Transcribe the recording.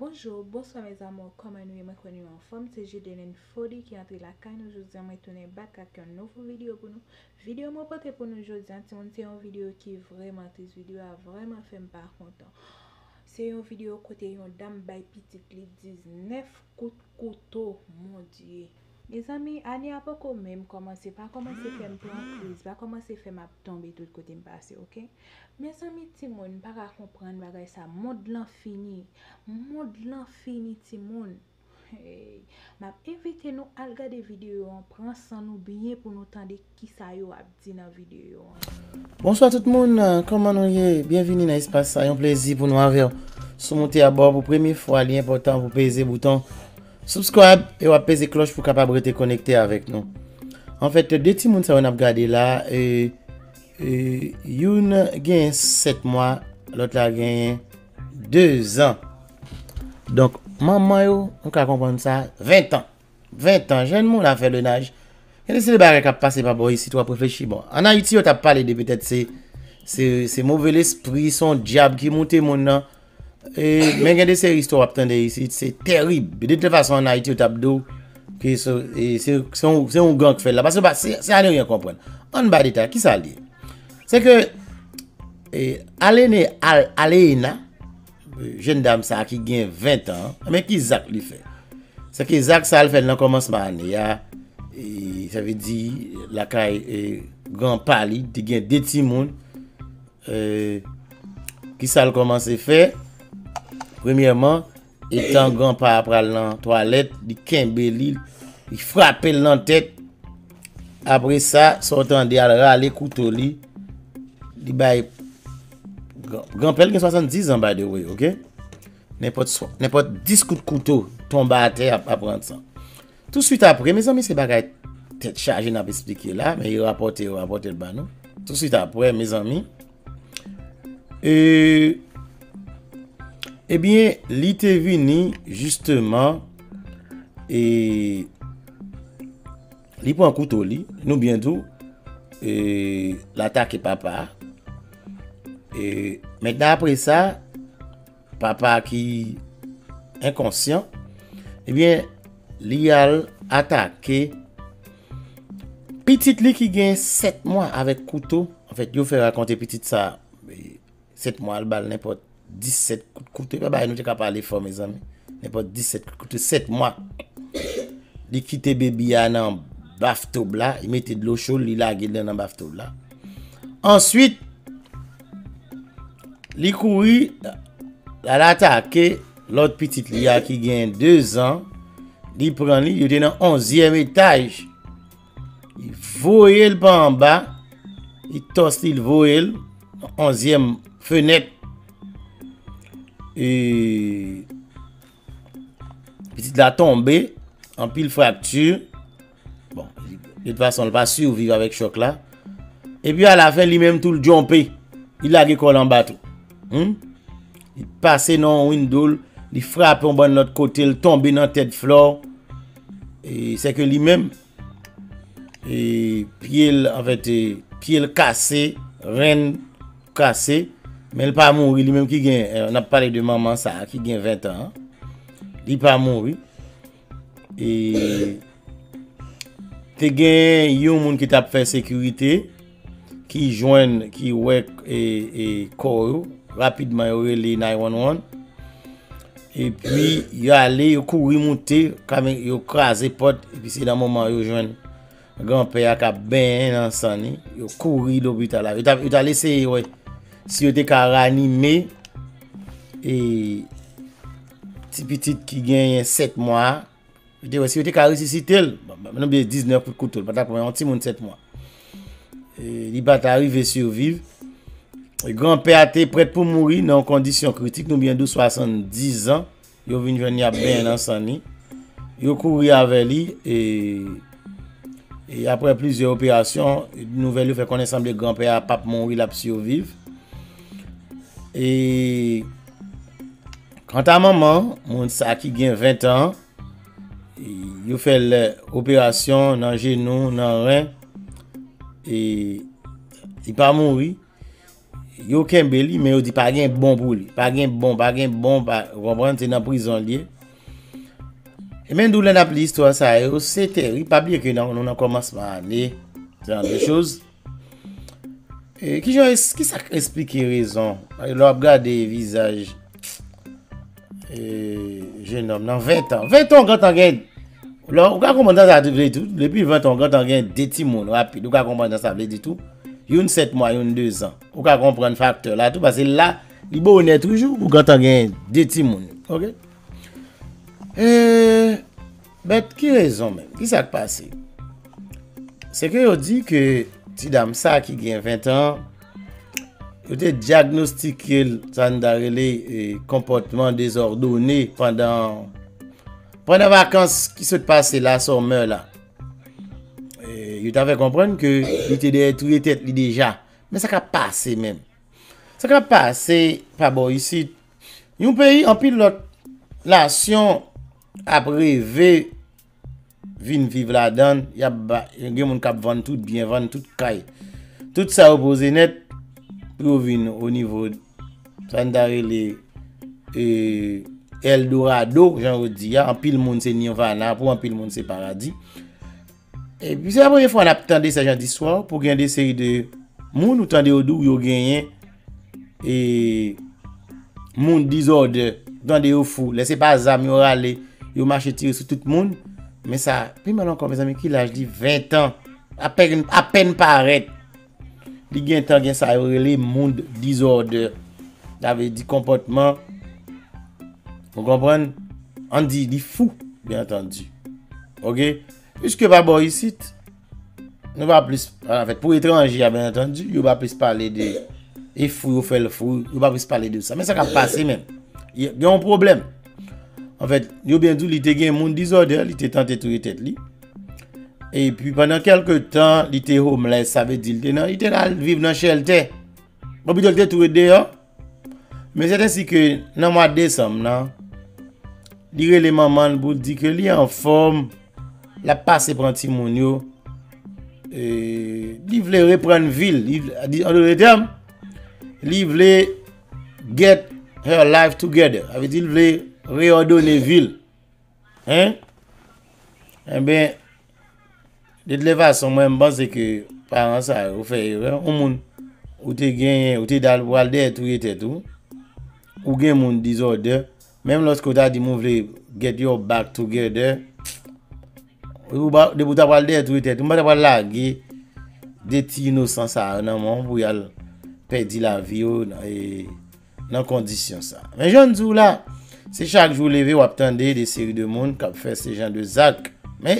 Bonjour bonswa mes amours kòman nou ye mwen kwè nou yo anfòm se Judeline Fody ki antre lakay nou jodia mwen tounen back ak yon nouvo video pou nou video mwen pote pou nou jodia timoun se yon video ki vrèman tris video a vrèman fèm pa kontan se yon video kote yon dam bay pitit li 19 kout kouto mon Dieu. Mezanmi ane a poko menm kòmanse pa kòmanse fèm pran kriz pa kòmanse fèm ap tonbe tout kotem pase ok mezanmi timoun m paka konprann bagay sa mond lan fini mond lan fini timoun heyy map envite nou al gade video an pran san nou byen pou nou tande Kisa yo ap di nan video an. Bonswa tout moun, kòman nou ye? Byenvini nan espas sa, yon plezi pou nou avèw. Si w moute abò pou premye fwa, li enpòtan pou peze bouton Subscribe e wap peze klòch pou kapab rete konekte avèk nou. Anfèt, 2 timoun sa yo nap gade la, youn genyen 7 mwa, lòt la genyen 2 zan. Donk, manman yo, nou ka konprann sa, 20 tan. 20 tan jèn moun a fè le naj. Gen de seri bagay kap pase pa bò isit wap reflechi bon. An Ayiti yo tap pale de petèt se se move lespri, son dyab ki moute moun nan. Men gen de seri istwa wap tande isit se terib. De tout fason an Ayiti yo tap di w ke se ougan k fè l la. Pase se a ne ryen konprann. An ba detay ki sa l ye? Se ke alene, alena. Jenn dam sa ki gen 20 tan, men ki zak li fè. Se ki zak sa l fè nan kòmansman ane a, sa vle di lakay gran pa li, te gen 2 ti moun, ki sa l kòmanse fè, premyèman, etan gran pa pral nan twalèt, li kenbe li, li frape l nan tèt, apre sa, sa w tande al rale kouto li, li bay. Granpèl gen 70 an by the way ok Nenpòt 10 kout kouto tonba atè ap aprann san Tou suit apre mezanmi se bagay tèt chaje nap esplike la Men yo rapòte yo rapòte l ba nou Tou suit apre mezanmi Eee Ebyen li te vini jisteman Eee Li pran kouto li, nou byen di w, e l atake papa a. E mentnan apre sa, papa a ki enkonsyan, e byen li al atake pitit li ki gen 7 mwa avèk kouto. Anfèt, yo fè rakonte pitit sa. 7 mwa al bal nenpòt 17 kout kouto epa bagay nou te ka pale fò mezanmi nenpòt 17 kout kouto 7 mwa li kite baby a nan baf tob la li mete dlo cho li lage li nan baf tob la answit li kouri la la take lòt pitit li a ki gen 2 zan li pran li yo te nan 11 yèm etaj Li voye l pa anba. Li tòs li, li voye l. Onzyèm fenèt. E... Pitit la tonbe. Anpil frakti. Bon, de tout fason, li pa surviv avèk chòk la. E pi a la fè li menm tou l djonpe. Li lage kò l anba tou. Hum? Li pase nan yon window l. Li frape yon bann lòt kote l. Tonbe nan tèt flò. Sèke li menm, pye l, an fèt, pye l kase, ren l kase, men l pa mouri, li menm ki gen, n ap pale de manman sa a, ki gen 20 an, li pa mouri. E, te gen yon moun ki t ap fè sekirite. ki jwenn ki wè kò yo rapidman yo rele 911 epi yo ale yo kouri moute kame yo kraze pot epi se nan moman yo jwenn gran pè a kap benyen nan san ni yo kouri lopita la yo ta lese yo wè si yo te ka ranime e ti pitit ki genyen 7 mwa a Yo te wè si yo te ka resisite l. Mwen te di 19 kout kouto. Li pa ta pran yon timoun 7 mwa. Li pa ta rive siviv. Gran pè a te prèt pou mouri nan yon kondisyon kritik. Nou byen dou 70 an. Yo vin jwenn li ap benyen nan san ni. Yo kouri avè li. E apre plizye operasyon. Nouvel yo fè konnen sanble gran pè a pap mouri. L ap siviv. E. Kanta manman moun sa ki gen 20 an, yo fè l operasyon nan jenou, nan ren, e li pa mouri. Yo kenbe li, men yo di pa gen bon pou li. Pa gen bon, pa gen bon, pa konprann, se nan prizon li ye. E men dou lè n ap li istwa sa yo, se teri, pa bliye ke nou nan kòmansman ane, se nan de choz. E ki jan es, ki sa k esplike rezon? Lè w ap gade vizaj e jenòm nan ventan. Ventan w gentan gen, lè w, ou ka konprann sa sa vle di tou. Depi ventan w gentan gen de timoun rapid. Ou ka konprann sa sa vle di tou. Youn 7 mwa, youn 2 zan. Ou ka konprann faktè la tou. Pase la, li bonè toujou pou gentan gen de timoun. Ok? E. But ki rezon menm? Ki sak pase? Se ke yo di ke ti dam sa ki gen 20 an, yo te diagnostike l sa n ta rele konpòtman dezòdone pandan pandan vakans ki sot pase la sòmè la. Yo ta fè konprann ke li te dèyè touye tèt li deja. Men sa kap pase menm? Sa kap pase pa bò isit? Yon peyi anpil lòt nasyon ap reve vin viv ladan l y ap ba gen moun k ap vann tout byen vann tout kay tout sa yo poze nèt pou yo vin o nivo sa n ta rele eldorado jan yo di a anpil moun se nirvana pou anpil moun se paradi E pi se la premye fwa nap tande sa jan di swa pou gen de seri de moun ou tande yo di w yo genyen e moun dizòde ou tande yo fou lè se pa zam yo rale yo mache tire sou tout moun men sa pi mal ankò mezanmi ki laj li 20 tan apèn parèt. Li gentan gen sa yo rele mood disorder. Sa vle di konpòtman. Ou konprann? An di li fou, byen antandi. Ok? Piske pa bo isit, nou va plis, an fèt, pou etranje a byen antandi, yo va plis pale de e fou yo fèl fou, yo va plis pale de sa. Men sa ka pase men. Gen yon pwoblèm. An fèt, yo byen di li te gen mood disorder, li te tante touye tèt li. E pi pandan kelke tan, li te homeless, sa ve di li te nan, li te nan viv nan chelte. Bon pi delte tou e de yo. Men se te si ke nan mwa desanm nan, li rele manman li pou di ke li an fom, la pase pran ti moun yo, e li vle repran vil, li vle get her life together. A ve di li vle reodone vil. Hein? Enben, de tle fason mwen m panse ke paran sa yo fè erè. Yon moun ou te genyen, ou te dal pral dèyè touye tèt ou. Ou gen moun dizòdè. Menm lòske ou ta di moun vle get your back together. Ou pa, depi ou ta pral dèyè touye tèt ou, ou pa ta pral lage de ti inosan sa yo nan men w pou y al pèdi lavi yo nan e. nan kondisyon sa. Men jan n di w la, se chak jou w leve w ap tande de seri de moun k ap fè se jan de zak. Men,